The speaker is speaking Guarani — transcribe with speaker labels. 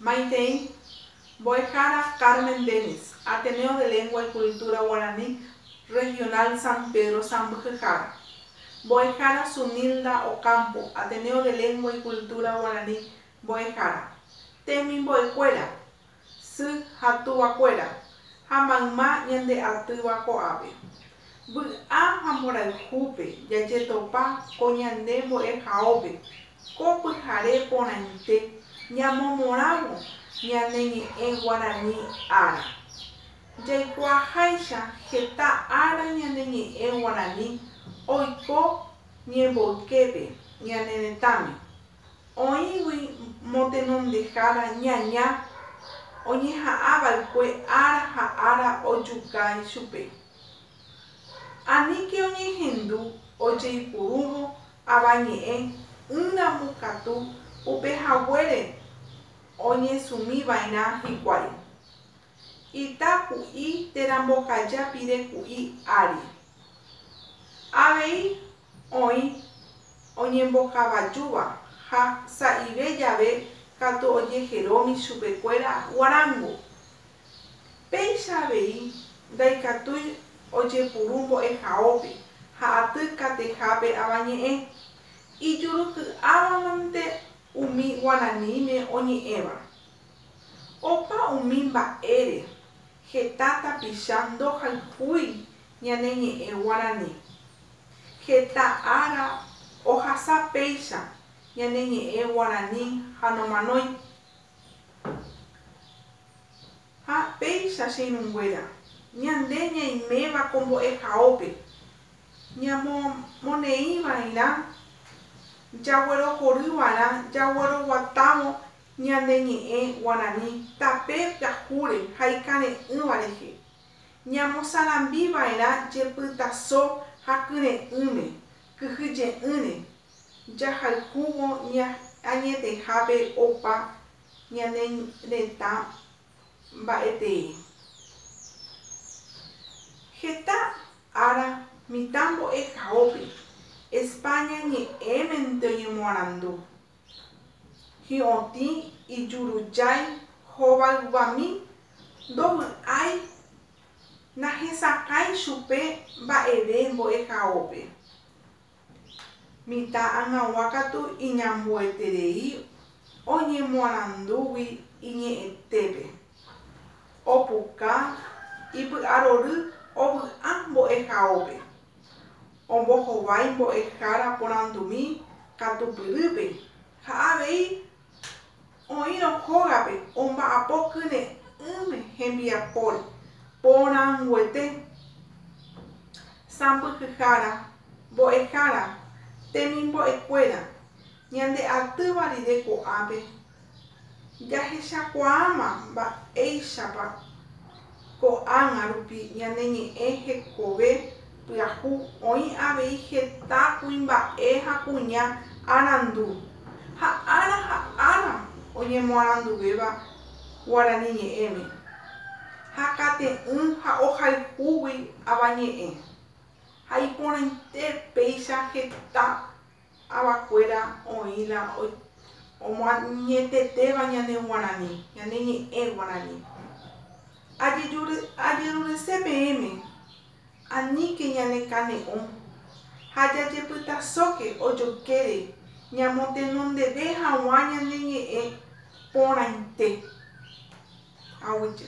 Speaker 1: Maitei, Mbo'ehára Carmen Dennis, Ateneo de Lengua y Cultura Guarani Regional San Pedro Sambyhyhára. Mbo'ehára Zunilda Ocampo, Ateneo de Lengua y Cultura Guarani Mbo'ehára. Temimbo'ekuéra, sy ha tuvakuéra, ha mayma ñande atýva ko'ápe. Vy'a ha mborayhúpe jajetopa ko ñande mbo'ehaópe, ko pyhare porãite ñamomorãvo ñane ñe'ẽ guarani ára. Jaikuaaháicha heta ára ñane ñe'ẽ guarani oiko ñemboyképe ñane retãme, Oĩgui motenondehára ñaña oñeha'ã va'ekue ára ha ára ojuka ichupe. Aníke oñehendu ojeipurúvo avañe'ẽ ỹramo katu upe haguére oñesũmi va'erã hikuái. Ita ku'i térã mbokaja pire ku'i ári. Avei oĩ oñembokavajúva ha sa'ive jave katu ojeheromi chupekuéra guarángo. Péicha avei ndaikatúi ojepuru mbo'ehaópe ha aty katehápe avañe'ẽ, ijuruky'ávamante umi guaraníme oñe'ẽva. Opa umi mba'ére, heta tapicha ndohayhúi ñane ñe'ẽ guarani. Heta ára ohasa péicha ñane ñe'ẽ guarani ha nomanói. Ha péicha, che irũnguéra, ñande ñaiméva ko mbo'ehaópe, ñamomoneĩva'erã jaguerohoryva'erã jagueroguatávo ñane ñe'ẽ guarani tape pyahúre ha ikare'ỹva rehe. Ñamosarambi va'erã jepytaso ha kyre'ỹme, kyhyje'ỹre, jahayhúvo añetehápe opa ñane retã mba'etee. Heta ára mitã mbo'ehaópe, España ñe'ẽmente oñemoarandu, hi'otĩ ijurujái hóva yvami, ndovy'ái, nahesakãi chupe mba'eve mbo'ehaópe. Mitã ag̃agua katu iñambueterei oñemoarandúgui iñe'ẽtépe, opuka ipy'arory ovy'a mbo'ehaópe. Ombohovái mbo'ehára porandumi katupyrýpe ha avei oĩrõ hógape omba'apo kyre'ỹme hembiapóre porãnguete, sãmbyhyhára, mbo'ehára, temimbo'ekuéra, ñande atýva rire ko'ápe Jahechakuaáma mba'éichapa ko'ág̃a rupi ñane ñe'ẽ hekove pyahu oĩ avei heta kuimba'e ha kuña arandu, ha ára ha ára oñemoaranduvéva guarani ñe'ẽme, ha kate'ỹ ha ohayhúgui avañe'ẽ, ha iporãite péicha heta avakuéra oĩ la omoañetetéva ñane guarani, ñane ñe'ẽ guarani. Ajerurese peẽme, aníke ñanekane'õ ha jajepytasóke ojokére ñamotenondeve haguã ñane ñe'ẽ porãite. Aguije.